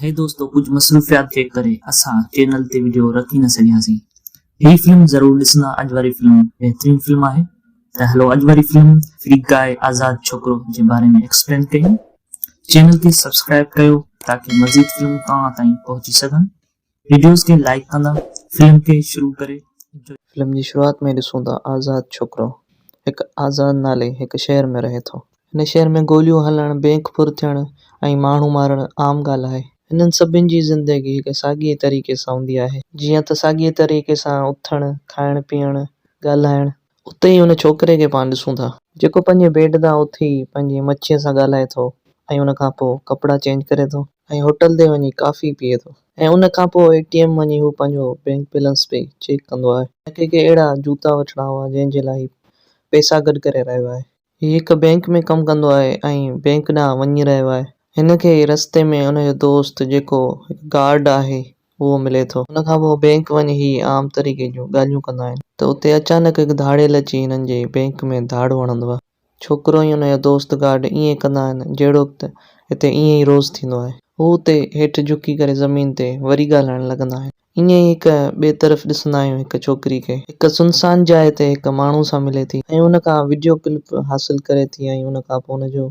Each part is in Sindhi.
هي دوستو ڪجهه مصروفيات جي ڪري اسان چينل تي وڊيو رکي نه سگهياسين هي فلم ضرور ڏسندا اڄ واري فلم بهترين فلم آهي ته هلو اڄ واري فلم فري گاء آزاد ڇوڪرو جي باري ۾ ايڪسپلين ڪيون چينل کي سبسڪرائب ڪيو تاڪي مزيد فلمون توهان تائين پهچي سگهن. ويڊيوز کي لائيڪ ڪندا فلم کي شروع ڪري انجوائي. فلم جي شروعات ۾ ڏسون ٿا آزاد ڇوڪرو هڪ آزاد نالي هڪ شهر ۾ رهي ٿو. هن شهر ۾ گوليون هلڻ، بينڪ ڦر ٿيڻ ۽ ماڻهو مارڻ عام ڳالهه آهي. هنن سڀن جي زندگي هڪ ساڳئي طريقي سان هوندي آهي. جيئن ته ساڳئي طريقي سان اٿڻ، کائڻ پيئڻ، ڳالهائڻ، اتي ئي ان ڇوڪري کي پاڻ ڏسون ٿا. جيڪو پنهنجي بيڊ تان اٿي پنهنجي مڇيء سان ڳالهائي ٿو ۽ ان کان پوء ڪپڙا چينج ڪري ٿو ۽ هوٽل تي وڃي ڪافي پيئي ٿو ۽ ان کان پوء اي ٽي ايم وڃي هو پنهنجو بينڪ بيلنس پئي چيڪ ڪندو آهي. ۽ ڪي ڪي اهڙا جوتا وٺڻا هئا جنهن جي لاء هي پئسا گڏ ڪري رهيو آهي. هي هڪ بئنڪ ۾ ڪم ڪندو آهي ۽ بئنڪ ڏانهن وڃي رهيو آهي. هن کي رستي ۾ هن جو دوست جيڪو هڪ گارڊ آهي اهو ملي ٿو. ان کان پوء بئنڪ وڃي هي عام طريقي جون ڳالهيون ڪندا آهن ته اتي اچانڪ هڪ ڌاڙيل اچي هنن جي بئنڪ ۾ ڌاڙ هڻندو آهي. ڇوڪرو ۽ ان جو دوست گارڊ ائين ڪندا آهن جهڙوڪ ته هتي ائين ئي روز ٿيندو آهي. هو اتي هيٺ جهڪي ڪري زمين تي وري ڳالهائڻ لڳندا آهن. ائين ئي هڪ ٻئي طرف ڏسندا آهيون هڪ ڇوڪري کي هڪ سنسان جاء تي هڪ ماڻهو سان ملي ٿي ۽ ان کان وڊيو ڪلپ حاصل ڪري ٿي ۽ ان کان پوء ان جو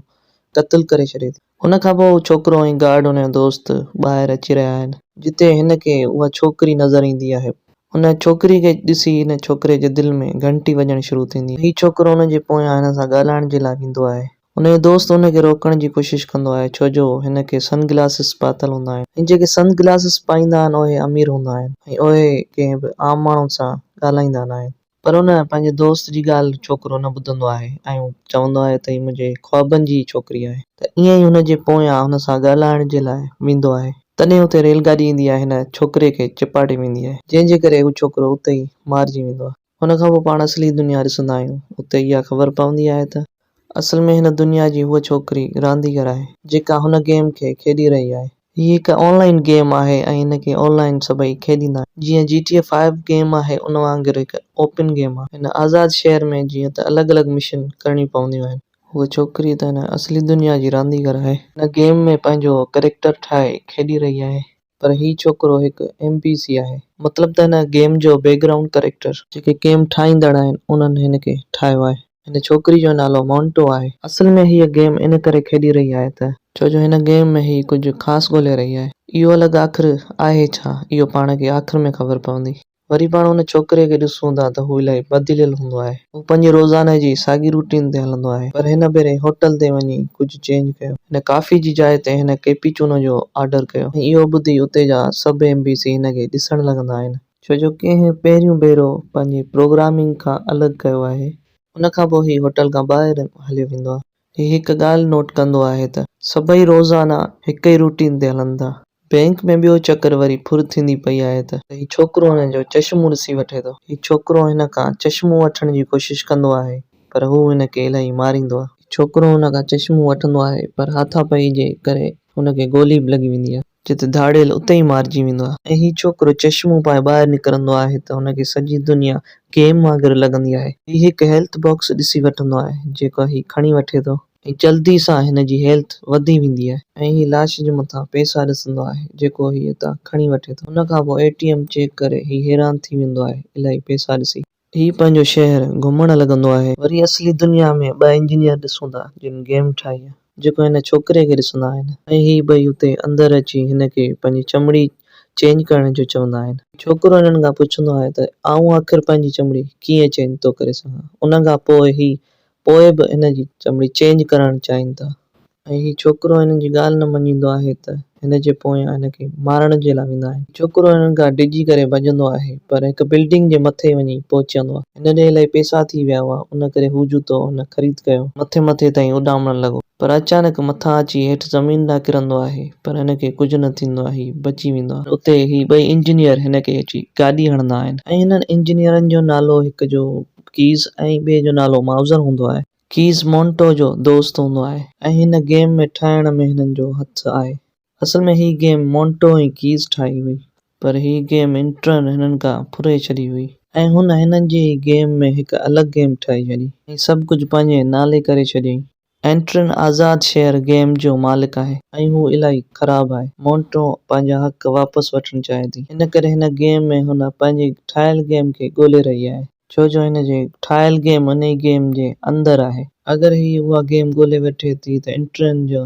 قتل ڪري ڇڏي ٿي. ان کان پوء هو ڇوڪرو ۽ گارڊ ان جو دوست ٻاهر اچي رهيا آهن. جتي هن کي اها ڇوڪري نظر ايندي آهي. ان ڇوڪري کي ڏسي هن ڇوڪري جي دل ۾ گهنٽي وڄڻ شروع ٿيندي آهي. هي ڇوڪرو ان جي پويان هن سان ڳالهائڻ جي لاء ويندو آهي. هن جو دوست هن کي روڪڻ جي ڪوشش ڪندو آهي ڇو جو هن کي سن گلاسز پاتل هوندا آهن ۽ جيڪي سن گلاسز پائيندا آهن اهي امير هوندا آهن ۽ اهي ڪنهن به عام ماڻهن سان ڳالهائيندا ناهن. پر هن پنهنجي دوست جي ڳالهه ڇوڪرو نه ٻڌندو آهي ۽ چوندو آهي ته هي منهنجي خوابن جي ئي ڇوڪري آهي ته ائين ئي هن جي پويان هن سان ڳالهائڻ جي لاء ويندو آهي تڏهن اتي ريل گاڏي ايندي آهي هن ڇوڪري کي چيپاٽي ويندي آهي جنهن جي ڪري هو ڇوڪرو اتي ئي مارجي ويندو آهي. ان کان پوء پاڻ اصلي دنيا ڏسندا آهيون. اتي اها خبر پوندي آهي ته. اصل ۾ هن دنيا جي هوء ڇوڪري رانديگر آهي. جيڪا هن گيم کي کيڏي رهي آهي. هي هڪ آن لائين گيم آهي ۽ هن کي آن لائين سڀئي کيڏيندا آهن. جيئن G T A five game آهي ان وانگر هڪ اوپن گيم آهي. هن آزاد شهر ۾ جيئن ته الڳ الڳ مشن ڪرڻيون پونديون آهن. هوء ڇوڪري ته هن اصلي دنيا جي رانديگر آهي. هن گيم ۾ پنهنجو ڪريڪٽر ٺاهي کيڏي رهي آهي. پر هي ڇوڪرو هڪ ايم پي سي آهي. مطلب ته هن گيم جو بيڪ گرائونڊ ڪريڪٽر. جيڪي گيم ٺاهيندڙ آهن انهن هن کي ٺاهيو آهي. هن ڇوڪري جو نالو مونٽو آهي. اصل ۾ هيء گيم ان ڪري کيڏي رهي آهي ته. ڇو جو هن گيم ۾ هي ڪجهه خاص ڳولهي رهي آهي. اهو الڳ آخر آهي ڇا؟ اهو پاڻ کي آخر ۾ خبر پوندي. وري پاڻ ان ڇوڪري کي ڏسون ٿا ته هو الاهي بدليل هوندو آهي. هو پنهنجي روزاني جي ساڳي روٽين تي هلندو آهي پر هن ڀيري هوٽل تي وڃي ڪجهه چينج ڪيو. هن ڪافي جي جاء تي هن ڪيپيچونو جو آرڊر ڪيو ۽ اهو ٻڌي اتي جا سڀ ايم بي سي هن کي ڏسڻ لڳندا آهن. ڇو جو ڪنهن پهريون ڀيرو پنهنجي پروگرامنگ کان الڳ ڪيو آهي. ان کان پوء هي هوٽل کان ٻاهر هليو ويندو آهي. هي هڪ ڳالهه نوٽ ڪندو آهي ته سڀئي روزانه هڪ ئي روٽين تي هلن ٿا. بئنڪ ۾ ٻيو چڪر وري ڦر ٿيندي پئي آهي ته. هي ڇوڪرو هن جو چشمون ڏسي وٺي ٿو. هي ڇوڪرو هن کان چشمون وٺڻ جي ڪوشش ڪندو آهي پر هو هن کي الائي ماريندو آهي. هي ڇوڪرو هن کان چشمون وٺندو آهي پر هاٿا پئي جي ڪري هن کي گولي به لڳي ويندي آهي. جت ڌاڙيل اتي ئي مارجي ويندو آهي ۽ هي ڇوڪرو چشمون پائي ٻاهر نڪرندو آهي ته هن کي سڄي دنيا گيم وانگر لڳندي آهي. هي هڪ هيلٿ باڪس ڏسي وٺندو آهي جيڪو هي کڻي وٺي ٿو ۽ جلدي سان هن جي هيلٿ وڌي ويندي آهي ۽ هي لاش جي مٿان پئسا ڏسندو آهي جيڪو هي اتان کڻي وٺي ٿو ان کان پوء اي ٽي ايم چيڪ ڪري هي حيران ٿي ويندو آهي الائي پئسا ڏسي. هي پنهنجو شهر گهمڻ لڳندو آهي. وري اصلي دنيا ۾ ٻه انجنيئر ڏسون ٿا جن گيم ٺاهي آهي جيڪو هن ڇوڪري کي ڏسندا آهن ۽ هي ٻئي اتي اندر اچي هن کي پنهنجي چمڙي چينج ڪرڻ جو چوندا آهن. ڇوڪرو هنن کان پڇندو آهي ته آئون آخر پنهنجي چمڙي ڪيئن چينج ٿو ڪري سگهان ان کان پوء هي پوء به هن جي چمڙي چينج ڪرائڻ چاهين ٿا ۽ هي ڇوڪرو هنن جي ڳالهه نه مڃيندو آهي ته هن جي پويان هن کي مارڻ جي لاء ويندا آهن. ڇوڪرو هنن کان ڊڄي ڪري ڀڄندو آهي پر هڪ بلڊنگ جي مٿي وڃي پهچندو آهي. هن ڏي الائي پئسا ٿي ويا هئا ان ڪري هو جوتو هن خريد ڪيو. مٿي مٿي تائين اڏامڻ لڳو پر اچانڪ مٿان اچي هيٺ زمين ڏانهن ڪرندو آهي پر هن کي ڪجهه نه ٿيندو آهي هي بچي ويندو آهي. اتي هي ٻئي انجنيئر هن کي اچي گاڏي هڻندا آهن ۽ هنن انجنيئرن جو نالو هڪ جو ڪيز ۽ ٻئي جو نالو مائوزر هوندو آهي. ڪيز مونٽو جو دوست هوندو آهي. ۽ هن گيم ۾ ٺاهڻ ۾ هنن جو هٿ آهي. اصل ۾ هي گيم مونٽو ۽ ڪيز ٺاهي هئي. پر هي گيم انٽرن هنن کا ڦري ڇڏي هئي. ۽ هن هنن جي ئي گيم ۾ هڪ الڳ گيم ٺاهي ڇڏي. ۽ سڀ ڪجهه پنهنجي نالي ڪري ڇڏيائين. اينٽرن آزاد شهر گيم جو مالڪ آهي ۽ هو الائي خراب آهي. مونٽو پنهنجا حق واپس وٺڻ چاهي ٿي. ان ڪري هن گيم ۾ هن پنهنجي ٺاهيل گيم کي ڳولي رهي آهي. ڇو جو هن جي ٺاهيل گيم انهي گيم جي اندر آهي. اگر هي اها گيم ڳولي وٺي ٿي ته اينٽرن جا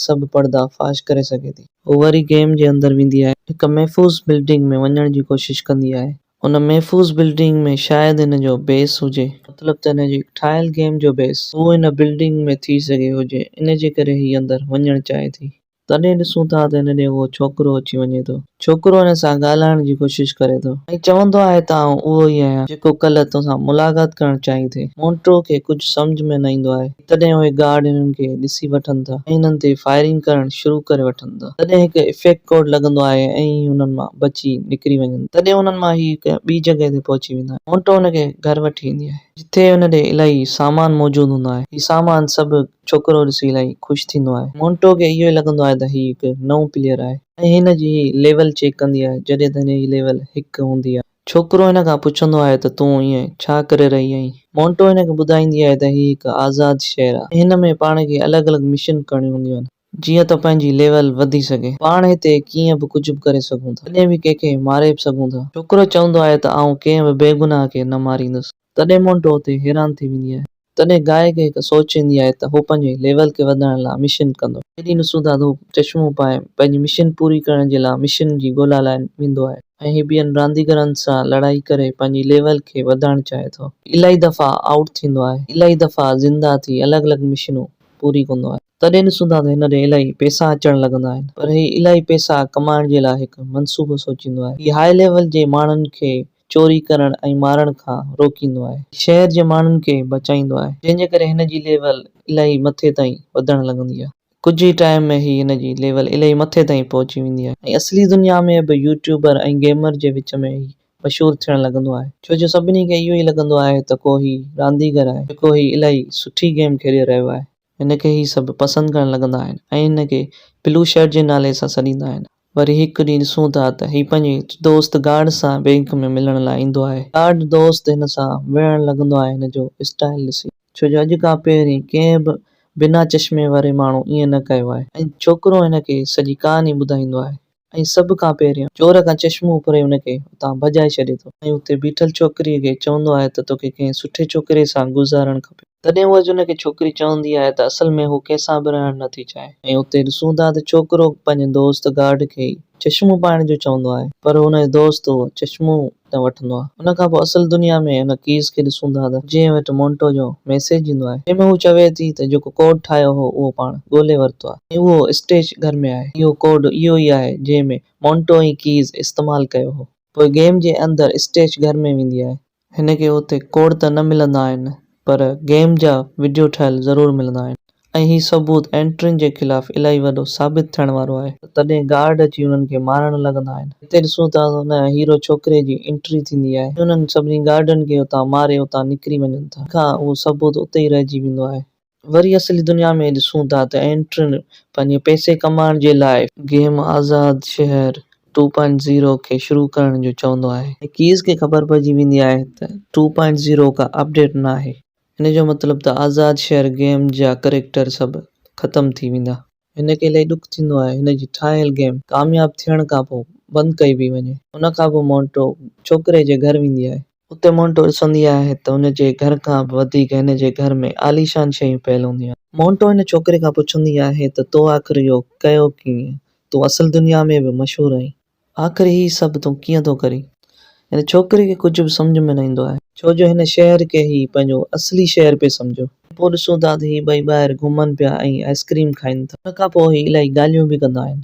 سڀ پڙدا فاش ڪري سگهي ٿي. هو وري گيم جي اندر ويندي آهي. هڪ محفوظ بلڊنگ ۾ وڃڻ جي ڪوشش ڪندي آهي. ان محفوظ بلڊنگ ۾ شايد هن جو بيس هجي. مطلب ته هن جي ٺاهيل گيم جو بيس اهو ان بلڊنگ ۾ ٿي سگهي هجي، ان جي ڪري هي اندر وڃڻ چاهي ٿي. تڏهن ڏسون ٿا ته هن ڏي اهو ڇوڪرو اچي وڃي ٿو. ڇوڪرو هن سان ڳالهائڻ جي ڪوشش ڪري ٿو ۽ چوندو آهي ته آئون اهو ئي آهيان جيڪو ڪلهه تو سان ملاقات ڪرڻ چاهين ٿي. مونٽرو کي ڪجهه سمجهه ۾ نه ايندو آهي. تڏهن اهي گارڊ انهن کي ڏسي وٺن ٿا ۽ انهن تي فائرنگ ڪرڻ شروع ڪري وٺن ٿا. تڏهن هڪ افيڪٽ ڪوڊ لڳندو آهي ۽ اهي انهن مان بچي نڪري وڃن ٿا. تڏهن انهن مان اهي هڪ ٻي جڳهه تي پهچي ويندا آهن. مونٽو هن کي گهر وٺي ايندي آهي. جتي هن ڏي الائي سامان موجود هوندو آهي. هي سامان سڀ ڇوڪرو ڏسي الائي خوش ٿيندو آهي. مونٽو کي اهو ئي لڳندو آهي ته هي هڪ نئون پليئر آهي ۽ هن جي هي ليول چيڪ ڪندي آهي جڏهن ته هن جي ليول هڪ هوندي آهي. ڇوڪرو هن کان پڇندو آهي ته تون ائين ڇا ڪري رهي آهين؟ مونٽو هن کي ٻڌائيندي آهي ته هي هڪ آزاد شهر آهي ۽ هن ۾ پاڻ کي الڳ الڳ مشن ڪرڻيون هونديون آهن. جيئن ته پنهنجي ليول وڌي سگهي. پاڻ هتي ڪيئن به ڪجهه به ڪري سگهون ٿا. ڪڏهن به ڪنهن کي ماري به سگهون ٿا. ڇوڪرو چوندو آهي ته آئون ڪنهن به بيگناهه کي نه ماريندس. تڏهن مونٽو اتي حيران ٿي ويندي آهي. تڏهن گائي کي هڪ سوچ ايندي آهي ته هو پنهنجي ليول کي وڌائڻ لاء مشن ڪندو. هيڏي نسودا ڌوپ چشمو پائي پنهنجي مشن پوري ڪرڻ جي لاء مشن جي ڳولا لاء ويندو آهي. ۽ هي ٻين رانديگرن سان لڙائي ڪري پنهنجي ليول کي وڌائڻ چاهي ٿو. الائي دفعا آئوٽ ٿيندو آهي. الائي دفعا زنده ٿي الڳ الڳ مشنون پوري ڪندو آهي. تڏهن نسودا ته هن ڏي الائي پئسا اچڻ لڳندا آهن. پر هي الائي پئسا ڪمائڻ جي لاء هڪ منصوبو سوچيندو آهي. هي هاء ليول جي ماڻهن کي چوري ڪرڻ ۽ مارڻ کان روڪيندو آهي. شهر جي ماڻهن کي بچائيندو آهي. جنهن جي ڪري هن جي ليول الائي مٿي تائين وڌڻ لڳندي آهي. ڪجهه ئي ٽائيم ۾ هي هن جي ليول الائي مٿي تائين پهچي ويندي آهي ۽ اصلي دنيا ۾ به يوٽيوبر ۽ گيمر جي وچ ۾ هي مشهور ٿيڻ لڳندو آهي. ڇو جو سڀني کي اهو ئي لڳندو آهي ته ڪو هي رانديگر آهي جيڪو هي الائي سٺي گيم کيڏي رهيو آهي. هن کي هي سڀ پسند ڪرڻ لڳندا آهن ۽ هن کي بلو شرٽ جي نالي سان سڏيندا آهن. وري هڪ ڏينهن ڏسون ٿا ته هي پنهنجي دوست گارڊ سان بئنڪ ۾ ملڻ لاء ايندو آهي. گارڊ دوست هن سان وڙهڻ لڳندو آهي هن جو اسٽائيل ڏسي. ڇو جو اڄ کان پهرين ڪنهن به بنا چشمي واري ماڻهو ائين نه ڪيو آهي. ۽ ڇوڪرو هن کي سڄي ڪهاڻي ٻڌائيندو آهي. ۽ سڀ کان پهريان چور کان چشمو اکري ان کي اتان ڀڄائي ڇڏي ٿو ۽ اتي بيٺل ڇوڪريء کي چوندو آهي ته توکي ڪنهن سٺي ڇوڪريء سان گذارڻ کپي. تڏهن هوء ان کي ڇوڪري چوندي آهي ته اصل ۾ هوء ڪنهن سان به رهڻ نه ٿي چاهي ۽ اتي ڏسون ٿا ته ڇوڪرو پنهنجي دوست گارڊ کي ئي چشمو پائڻ جو چوندو آهي پر هن جو دوست هوء چشمو تان وٺندو آهي. ان کان پوء اصل دنيا ۾ ان ڪيس کي ڏسون ٿا ته جنهن وٽ مونٽو جو ميسيج ايندو آهي، جنهن ۾ هو چوي ٿي ته جيڪو ڪوڊ ٺاهيو هو اهو پاڻ ڳولي ورتو آهي ۽ اهو اسٽيج گهر ۾ آهي. اهو ڪوڊ اهو ئي آهي جنهن ۾ مونٽو ۽ ڪيز استعمال ڪيو هو. پوء گيم جي اندر اسٽيج گهر ۾ ويندي آهي. هن کي اتي ڪوڊ ته نه ملندا آهن پر گيم جا وڊيو ٺهيل ضرور ملندا آهن ۽ هي ثبوت اينٽرين جي خلاف الائي وڏو ثابت ٿيڻ وارو آهي. تڏهن گارڊ اچي انهن کي مارڻ لڳندا آهن. هتي ڏسون ٿا ته هن هيرو ڇوڪري جي انٽري ٿيندي آهي ۽ انهن سڀني گارڊن کي اتان ماري اتان نڪري وڃن ٿا جنهن کان اهو ثبوت اتي ئي رهجي ويندو آهي. وري اصلي دنيا ۾ ڏسون ٿا ته اينٽرين پنهنجي پئسي ڪمائڻ جي لاء. گيم آزاد شهر ٽو پوائنٽ زيرو کي شروع ڪرڻ جو چوندو آهي. ڪيز کي خبر پئجي ويندي آهي ته ٽو پوائنٽ زيرو ڪا اپڊيٽ ناهي. ان جو مطلب ته آزاد شهر گيم جا ڪريڪٽر سڀ ختم ٿي ويندا. هن کي الائي ڏک ٿيندو آهي هن جي ٺاهيل گيم ڪامياب ٿيڻ کان پوء بند ڪئي پئي وڃي. ان کان پوء مونٽو ڇوڪري جي گهر ويندي آهي. اتي مونٽو ڏسندي آهي ته هن جي گهر کان به وڌيڪ هن جي گهر ۾ عاليشان شيون پيل هونديون آهن. مونٽو هن ڇوڪري کان پڇندي آهي ته تو آخر اهو ڪيو ڪيئن؟ تون اصل دنيا ۾ به مشهور آهين. آخر هي سڀ تون ڪيئن ٿو ڪرين؟ هن ڇوڪري کي ڪجهه به سمجهه ۾ نه ايندو آهي. ڇو جو هن شهر کي هي پنهنجو اصلي شهر پئي سمجهيو. پوء ڏسون ٿا ته هي ٻئي ٻاهر گهمن پيا ۽ آئسڪريم کائين ٿا. ان کان پوء هي الائي ڳالهيون به ڪندا آهن.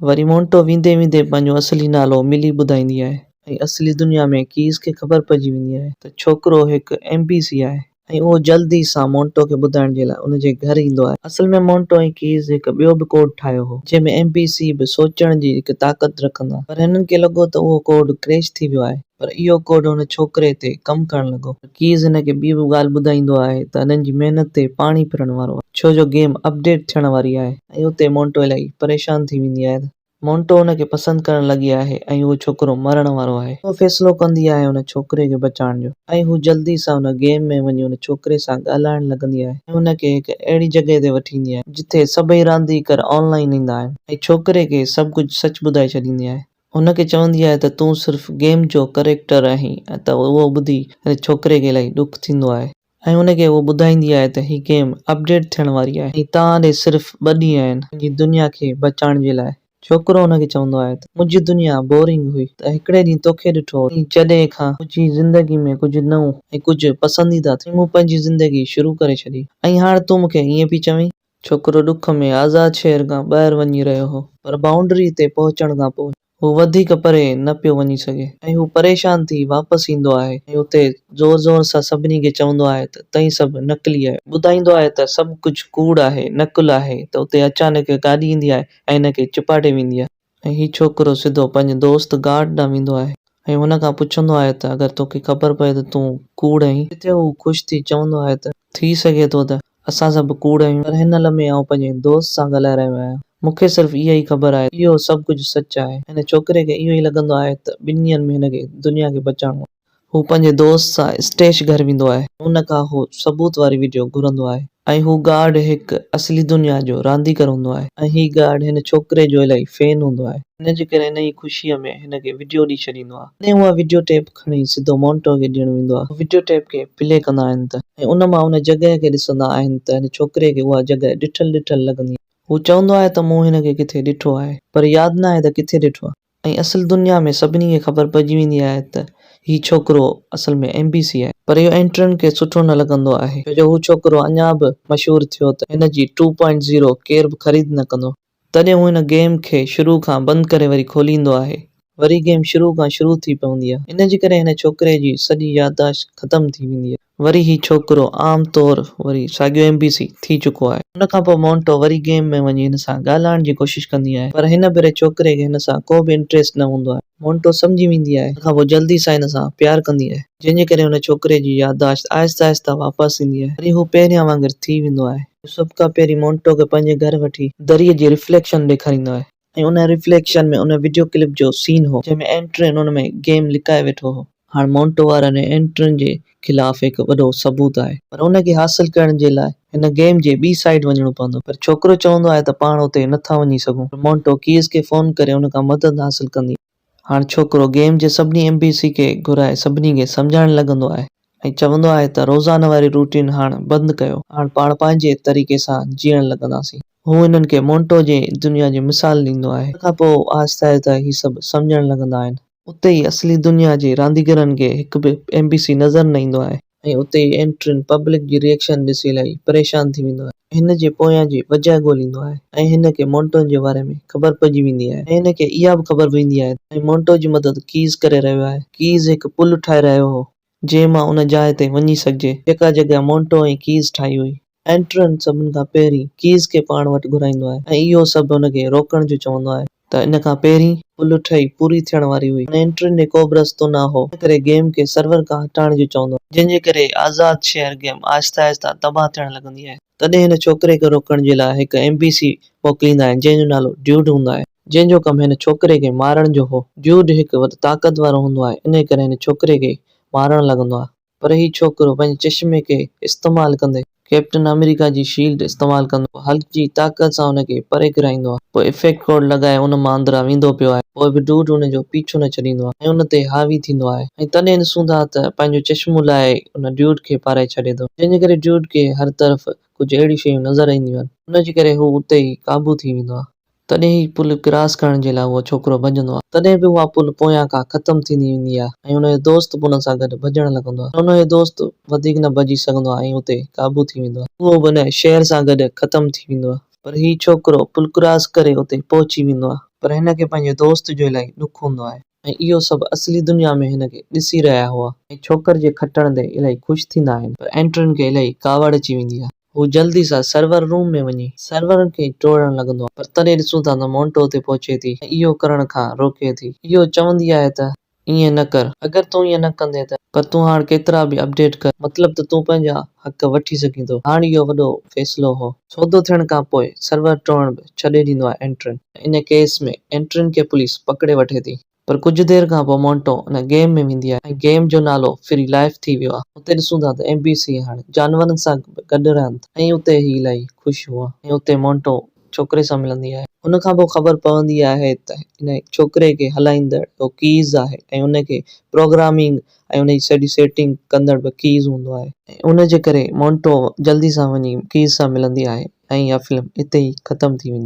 وري مونٽو ويندي ويندي پنهنجو اصلي نالو ملي ٻڌائيندي آهي. ۽ اصلي دنيا ۾ ڪيس کي خبر پئجي ويندي آهي ته ڇوڪرو هڪ ايم بي سي آهي. ۽ اهو جلد ئي سان مونٽو کي ٻڌائڻ جي لاء ان جي گهر ايندو آهي. اصل ۾ مونٽو ۽ ڪيس هڪ ٻيو به ڪوڊ ٺاهيو هو جنهن ۾ ايم بي سي به سوچڻ جي هڪ طاقت رکن ٿا پر هنن کي لڳو ته اهو ڪوڊ ڪريش ٿي ويو آهي پر اهو ڪوڊ هن ڇوڪري تي ڪم ڪرڻ لڳو. ڪيز هن کي ٻي به ڳالهه ٻڌائيندو آهي ته هنن جي محنت تي پاڻي ڦرڻ وارو آهي ڇو جو گيم اپڊيٽ ٿيڻ واري آهي ۽ اتي مونٽو الائي پريشان ٿي ويندي آهي ته مونٽو هن کي پسند ڪرڻ لڳي آهي ۽ اهو ڇوڪرو مرڻ وارو آهي هوء فيصلو ڪندي آهي ان ڇوڪري کي بچائڻ جو ۽ هوء جلدي سان ان گيم ۾ وڃي ان ڇوڪري سان ڳالهائڻ لڳندي آهي ۽ هن کي هڪ اهڙي جڳهه تي وٺي ايندي آهي جتي سڀئي رانديڪر آن لائين ايندا آهن ۽ ڇوڪري کي سڀ ڪجهه سچ ٻڌائي ڇڏيندي آهي هن کي چوندي آهي ته تون صرف گيم جو ڪريڪٽر آهين ته اهو ٻڌي هن ڇوڪري کي الائي ڏک ٿيندو آهي ۽ هن کي اهو ٻڌائيندي آهي ته هي گيم اپڊيٽ ٿيڻ واري آهي ۽ توهان ڏي صرف ٻه ڏينهن آهن پنهنجي دنيا کي بچائڻ جي لاء. ڇوڪرو هن کي چوندو آهي ته منهنجي دنيا بورنگ هئي ته هڪڙي ڏينهن توکي ڏٺو ۽ جڏهن کان منهنجي زندگي ۾ ڪجهه نئون ۽ ڪجهه پسنديده ٿيو مون پنهنجي زندگي شروع ڪري ڇڏي ۽ هاڻ تون مون کي ائين پئي چوين. ڇوڪرو ڏک ۾ آزاد شهر کان ٻاهر وڃي رهيو هو. پر بائونڊري تي پهچڻ کان پوء هو وڌيڪ پري نه پيو وڃي سگهي ۽ هو پريشان ٿي واپس ايندو آهي ۽ اتي زور زور سان سڀني کي چوندو آهي ته تئين سڀ نقلي آهيو. ٻڌائيندو آهي ته سڀ ڪجهه ڪوڙ آهي، نقل آهي ته اتي اچانڪ هڪ گاڏي ايندي آهي ۽ هن کي چپاٽي ويندي آهي. ۽ هي ڇوڪرو سڌو پنهنجي دوست گارڊ ڏانهن ويندو آهي ۽ هن کان پڇندو آهي ته اگر توکي خبر پئي ته تون ڪوڙ آهين. جتي هو خوش ٿي چوندو آهي ته ٿي سگهي ٿو ته اسان سڀ ڪوڙ آهيون پر هن لمحي آئون پنهنجي دوست سان ڳالهائي رهيو آهيان مون کي صرف اها ئي خبر آهي ته اهو سڀ ڪجهه سچ آهي. هن ڇوڪري کي اهو ئي لڳندو آهي ته ٻنهين ۾ هن کي دنيا کي بچائڻو آهي. هو پنهنجي دوست سان اسٽيش گهر ويندو آهي. ان کان هو ثبوت واري وڊيو گهرندو آهي ۽ هو گارڊ هڪ اصلي دنيا جو رانديگر هوندو آهي ۽ هي گارڊ هن ڇوڪري جو الائي فين هوندو آهي. ان جي ڪري انهيء خوشيء ۾ هن کي وڊيو ڏئي ڇڏيندو آهي. تڏهن اها وڊيو ٽيپ کڻي سڌو مونٽو کي ڏيڻ ويندو آهي. هو وڊيو ٽيپ کي پلي ڪندا آهن ته ۽ ان مان ان جڳهه کي ڏسندا آهن ته هن ڇوڪري کي اها جڳهه ڏٺل ڏٺل لڳندي آهي. هو چوندو آهي ته مون هن کي ڪٿي ڏٺو آهي پر ياد ناهي ته ڪٿي ڏٺو آهي. ۽ اصل دنيا ۾ سڀني کي خبر پئجي ويندي آهي ته هي ڇوڪرو اصل ۾ ايم بي سي آهي پر اهو اينٽرن کي سٺو نه لڳندو آهي ڇو جو هو ڇوڪرو اڃان به مشهور ٿيو ته هن جي ٽو پوائنٽ زيرو ڪير به خريد نه ڪندو. تڏهن هو هن گيم کي شروع کان بند ڪري وري کوليندو آهي. وري گيم شروع کان شروع ٿي پوندي آهي ان جي ڪري هن ڇوڪري جي سڄي يادداشت ختم ٿي ويندي آهي. وري هي ڇوڪرو عام طور وري ساڳيو ايم بي سي ٿي چڪو آهي. ان کان پوء مونٽو وري گيم ۾ وڃي هن سان ڳالهائڻ جي ڪوشش ڪندي آهي پر هن ڀيري ڇوڪري کي هن سان ڪو به انٽريسٽ نه هوندو آهي. مونٽو سمجهي ويندي آهي ان کان پوء جلدي سان هن سان پيار ڪندي آهي جنهن جي ڪري هن ڇوڪري جي يادداشت آهستي آهستي واپس ايندي آهي وري هو پهريان وانگر ٿي ويندو آهي. هو سڀ کان پهرين مونٽو کي پنهنجي گهر وٺي دريء جي رفليڪشن ڏيکاريندو آهي. ۽ ان ريفليڪشن ۾ ان وڊيو ڪلپ جو سين هو جنهن ۾ اينٽرين ان ۾ گيم لڪائي ويٺو هو. هاڻ مونٽو وارن ۽ اينٽرين جي خلاف هڪ وڏو ثبوت آهي. پر ان کي حاصل ڪرڻ جي لاء هن گيم جي ٻي سائيڊ وڃڻو پوندو. پر ڇوڪرو چوندو آهي ته پاڻ اتي نه ٿا وڃي سگهون پر مونٽو ڪيز کي فون ڪري ان کان مدد حاصل ڪندي. هاڻ ڇوڪرو گيم جي سڀني ايم بي سي کي گهرائي سڀني کي سمجهائڻ لڳندو آهي ۽ چوندو آهي ته روزانه واري روٽين هاڻ بند ڪيو هاڻ پاڻ پنهنجي طريقي سان جيئڻ لڳنداسين. هو هنن کي مونٽو جي دنيا جي مثال ڏيندو آهي. ان کان پوء آهستي آهستي هي سڀ سمجهڻ لڳندا آهن. اتي ئي اصلي دنيا جي رانديگرن کي هڪ به ايم بي سي نظر نه ايندو آهي. ۽ اتي ئي انٽرين پبلڪ جي ريئڪشن ڏسي الائي پريشان ٿي ويندو آهي ۽ هن جي پويان جي وجهه ڳوليندو آهي ۽ هن کي مونٽو جي باري ۾ خبر پئجي ويندي آهي ۽ هن کي اها به خبر پويندي آهي ته ۽ مونٽو جي مدد ڪيز ڪري رهيو آهي ڪيز هڪ پل ٺاهي رهيو هو جنهن مان ان جاء تي وڃي سگهجي جيڪا جڳهه مونٽو ۽ ڪيز ٺاهي هئي. اينٽرن سڀن کان پهرين ڪيز کي پاڻ وٽ گهرائيندو آهي ۽ اهو سڀ هن کي روڪڻ جو چوندو آهي ته ان کان پهرين پل ٺهي پوري ٿيڻ واري هئي ۽ اينٽرن ڏي ڪوبه رستو نه هو ان ڪري گيم کي سرور کان هٽائڻ جو چوندو آهي. جنهن جي ڪري آزاد شهر گيم آهستي آهستي تباهه ٿيڻ لڳندي آهي تڏهن هن ڇوڪري کي روڪڻ جي لاء هڪ ايم بي سي موڪليندا آهن جنهن جو نالو ڊيوڊ هوندو آهي جنهن جو ڪم هن ڇوڪري کي مارڻ جو هو ڊيوڊ هڪ وڌ طاقتور هوندو آهي انهي ڪري هن ڇوڪري کي مارڻ لڳندو آهي. پر هي ڇوڪرو پنهنجي چشمي کي استعمال ڪندي ڪئپٽن آمريڪا جي شيلڊ استعمال ڪندو آهي. هلڪ جي طاقت سان هن کي پري ڪيرائيندو آهي. پوء افيڪٽ ڪوڊ لڳائي ان مان اندران ويندو پيو آهي. پوء به ڊوڊ ان جو پيڇو نه ڇڏيندو آهي ۽ ان تي حاوي ٿيندو آهي ۽ تڏهن ڏسون ٿا ته پنهنجو چشمو لاهي ان ڊوڊ کي پارائي ڇڏي ٿو جنهن جي ڪري ڊوڊ کي هر طرف ڪجهه اهڙيون شيون نظر اينديون آهن. ان جي ڪري هو اتي ئي قابو ٿي ويندو آهي. تڏهن ئي پل ڪراس ڪرڻ جي لاء اهو ڇوڪرو ڀڄندو آهي. تڏهن به اها پل پويان کان ختم ٿيندي ويندي آهي ۽ ان جو دوست به ان سان گڏ ڀڄڻ لڳندو آهي پر ان جو دوست وڌيڪ نه ڀڄي سگهندو آهي ۽ اتي قابو ٿي ويندو آهي. اهو به ان شهر سان گڏ ختم ٿي ويندو آهي. پر هي ڇوڪرو پل ڪراس ڪري اتي پهچي ويندو آهي. پر هن کي پنهنجي دوست جو الائي ڏک هوندو آهي. ۽ اهو سڀ اصلي دنيا ۾ هن کي ڏسي رهيا هئا. اهي ڇوڪر جي کٽڻ تي الائي خوش ٿيندا آهن. پر اينڊرن کي الائي ڪاوڙ اچي ويندي آهي. هو جلدي سان سرور روم ۾ وڃي سرورن کي ٽوڙڻ لڳندو آهي. پر تڏهن ڏسون ٿا ته مونٽو اتي پهچي ٿي ۽ اهو ڪرڻ کان روڪي ٿي. اهو چوندي آهي ته ائين نه ڪر. اگر تون ائين نه ڪندين ته. پر تون هاڻ ڪيترا به اپڊيٽ ڪر. مطلب ته تون پنهنجا حق وٺي سگهين ٿو. هاڻ اهو وڏو فيصلو هو. سودو ٿيڻ کان پوء سرور ٽوڙڻ به ڇڏي ڏيندو آهي اينڊرن. ان ڪيس ۾ اينٽرين کي پوليس پڪڙي وٺي ٿي پر ڪجهه دير کان پوء مونٽو ان گيم ۾ ويندي آهي ۽ گيم جو نالو فري لائف ٿي ويو آهي. اتي ڏسون ٿا ته ايم بي سي هاڻي جانورن سان به گڏ رهن ٿا ۽ اتي هي الائي خوش هئا ۽ اتي مونٽو ڇوڪري سان ملندي آهي. ان کان پوء خبر پوندي آهي ته ان ڇوڪري کي هلائيندڙ اهو ڪيز آهي ۽ ان کي پروگرامنگ ۽ ان جي سڄي سيٽنگ ڪندڙ به ڪيز هوندو آهي. ۽ ان جي ڪري مونٽو جلدي سان وڃي ڪيز سان ملندي آهي ۽ اها فلم اتي ئي ختم ٿي ويندي آهي.